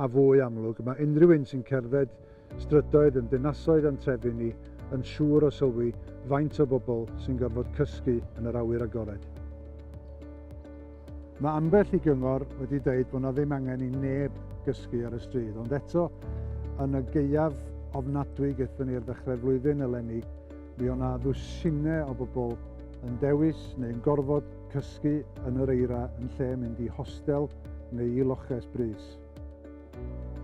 a fwy amlwg, mae unrhyw un sy'n cerdded strydoedd yn dinasoedd a'n trefi ni yn siŵr o sylwi faint o bobl sy'n gorfod cysgu yn yr awyr agored. Mae ambell i gyngor wedi dweud bod 'na ddim angen i neb gysgu ar y stryd, ond eto, yn y gaeaf ofnadwy gaethon ni ar ddechrau'r flwyddyn eleni, mi o' 'na ddwsinau o bobl yn dewis neu'n gorfod cysgu yn yr eira yn lle mynd i hostel neu i loches brys.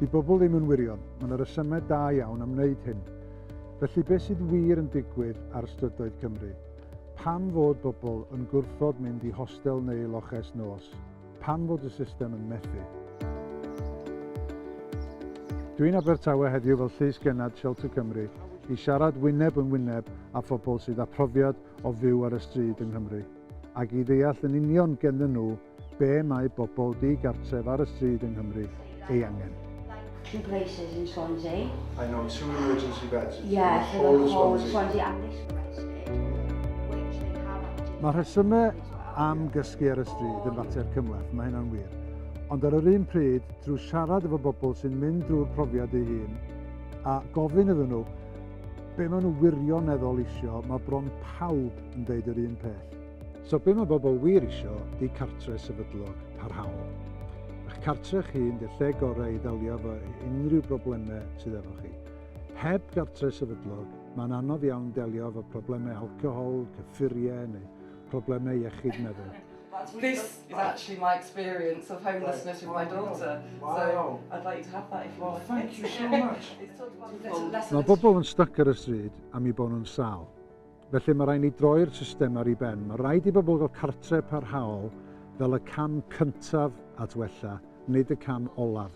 Di bobl ddim yn wirion, mae yna resymau da iawn am wneud hyn. Felly beth sydd wir yn digwydd ar strydoedd Cymru? Pam fod bobl yn gwrthod mynd i hostel neu loches nos? Pam fod y system yn methu? Dwi'n Abertawe heddiw fel Llys Gennad Shelter Cymru i siarad wyneb yn wyneb â phobl sydd â profiad o fyw ar y stryd yng Nghymru, ac i ddeall yn union genddyn nhw be mae bobl di-gartref ar y stryd yng Nghymru ei angen. two places in Swansea. I know two emergency beds in yeah, the whole of Swansea. Swansea and this one Mae rhesymau am gysgu ar y stryd yn fater cymhleth, mae hynna'n wir. Ond ar yr un pryd, drwy siarad efo bobl sy'n mynd drwy'r profiad ei hun, a gofyn iddyn nhw, Be maen nhw wirioneddol isio, mae bron pawb yn deud yr un peth. So be mae bobl wir isio 'di cartre sefydlog, parhaol. Eich cartre chi yn dy lle gorau i ddelio efo unrhyw broblemau sydd efo chi. Heb gartre sefydlog, mae'n anodd iawn delio efo problemau alcohol, cyffuriau neu problemau iechyd meddwl. is wow. actually my experience of homelessness with my daughter. Wow. So I'd like you to have that if you well, like thank it. you so much. Mae bobl yn stuck ar y stryd am i bod nhw'n sal. Felly mae rhaid ni droi'r system ar ei ben. Mae rhaid i bobl gael cartre parhaol fel y cam cyntaf at wella, nid y cam olaf.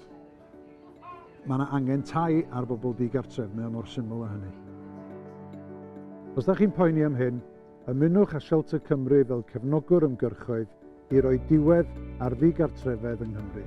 Mae yna angen tai ar bobl digartref, mae o mor syml o hynny. Os da chi'n poeni am hyn, Ymunwch â Shelter Cymru fel cefnogwr ymgyrchoedd i roi diwedd ar ddigartrefedd yng Nghymru.